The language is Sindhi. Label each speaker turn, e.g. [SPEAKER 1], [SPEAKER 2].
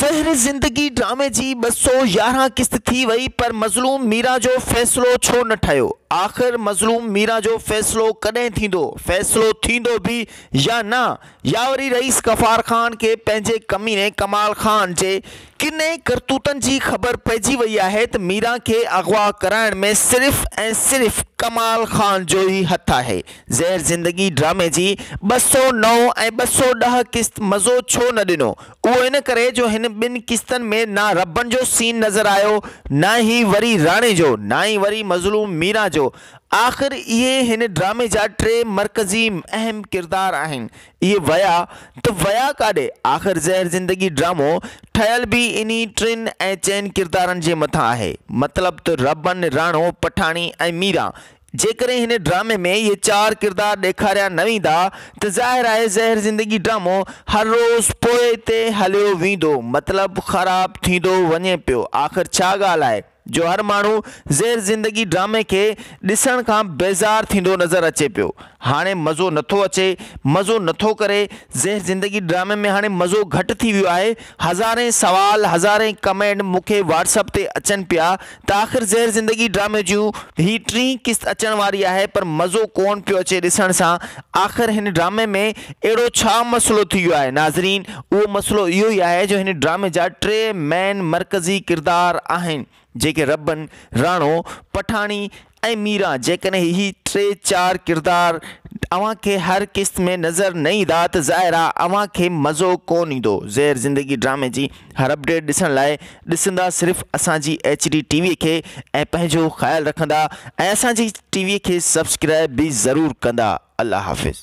[SPEAKER 1] زهر زندگي ڊرامي جي ٻه سؤ يارهن قسط ٿي وئي پر مظلوم ميران جو فيصلو ڇو نه ٺهيو؟ آخر مظلوم ميران جو فيصلو ڪڏهن ٿيندو؟ فيصلو ٿيندو به يا نه؟ يا وري رئيس غفار خان کي پنهنجي ڪميني ڪمال خان جي ڪني ڪرتوتن جي خبر پئجي وئي آهي ته ميران کي اغوا ڪرائڻ ۾ صرف ۽ صرف ڪمال خان جو ئي هٿ آهي؟ زهر زندگي ڊرامي جي ٻه سؤ نو ۽ ٻه سؤ ڏهه قسط مزو ڇو نه ڏنو؟ اهو ان ڪري جو هن ٻن قسطن ۾ نه ربڻ جو سين نظر آيو، نه ئي وري راڻي جو، نه ئي وري مظلوم ميران جو. آخر اهي هن ڊرامي جا ٽي مرڪزي اهم ڪردار آهن. اهي ويا ته ويا ڪاڏي؟ آخر زهر زندگي ڊرامو ٺهيل به انهي ٽن ۽ چئن ڪردارن جي مٿان آهي. مطلب ته ربڻ، راڻو، پٺاڻي ۽ ميران جيڪڏهن هن ڊرامي ۾ اهي چار ڪردار ڏيکاريا نه ويندا ته ظاهر آهي زهر زندگي ڊرامو هر روز پوئتي هليو ويندو مطلب خراب ٿيندو وڃي پيو آخر ڇا ڳالهه آهي جو هر ماڻهو زهر زندگي ڊرامي کي ڏسڻ کان بيزار ٿيندو نظر اچي پيو هاڻي مزو نٿو اچي مزو نٿو ڪري زهر زندگي ڊرامي ۾ هاڻي مزو گهٽ ٿي ويو آهي هزارين سوال هزارين ڪمينٽ مونکي واٽس اپ تي اچن پيا ته آخر زهر زندگي ڊرامي جون هي ٽين قسط اچڻ واري آهي پر مزو ڪون پيو اچي ڏسڻ سان آخر هن ڊرامي ۾ اهڙو ڇا مسئلو ٿي ويو آهي ناظرين اهو مسئلو اهو ئي آهي جو هن ڊرامي جا ٽي مين مرڪزي ڪردار آهن جيڪي ربن راڻو پٺاڻي ۽ ميران جيڪڏهن هي ٽي چار ڪردار اوهان کي هر قسط ۾ نظر نه ايندا ته ظاهر آ اوهان کي مزو ڪون ايندو زهر زندگي ڊرامي جي هر اپڊيٽ ڏسڻ لاء ڏسندا صرف اسان جي ايڇ ڊي ٽي وي کي ۽ پنهنجو خيال رکندا ۽ اسان جي ٽي وي کي سبسڪرائب به ضرور ڪندا الله حافظ.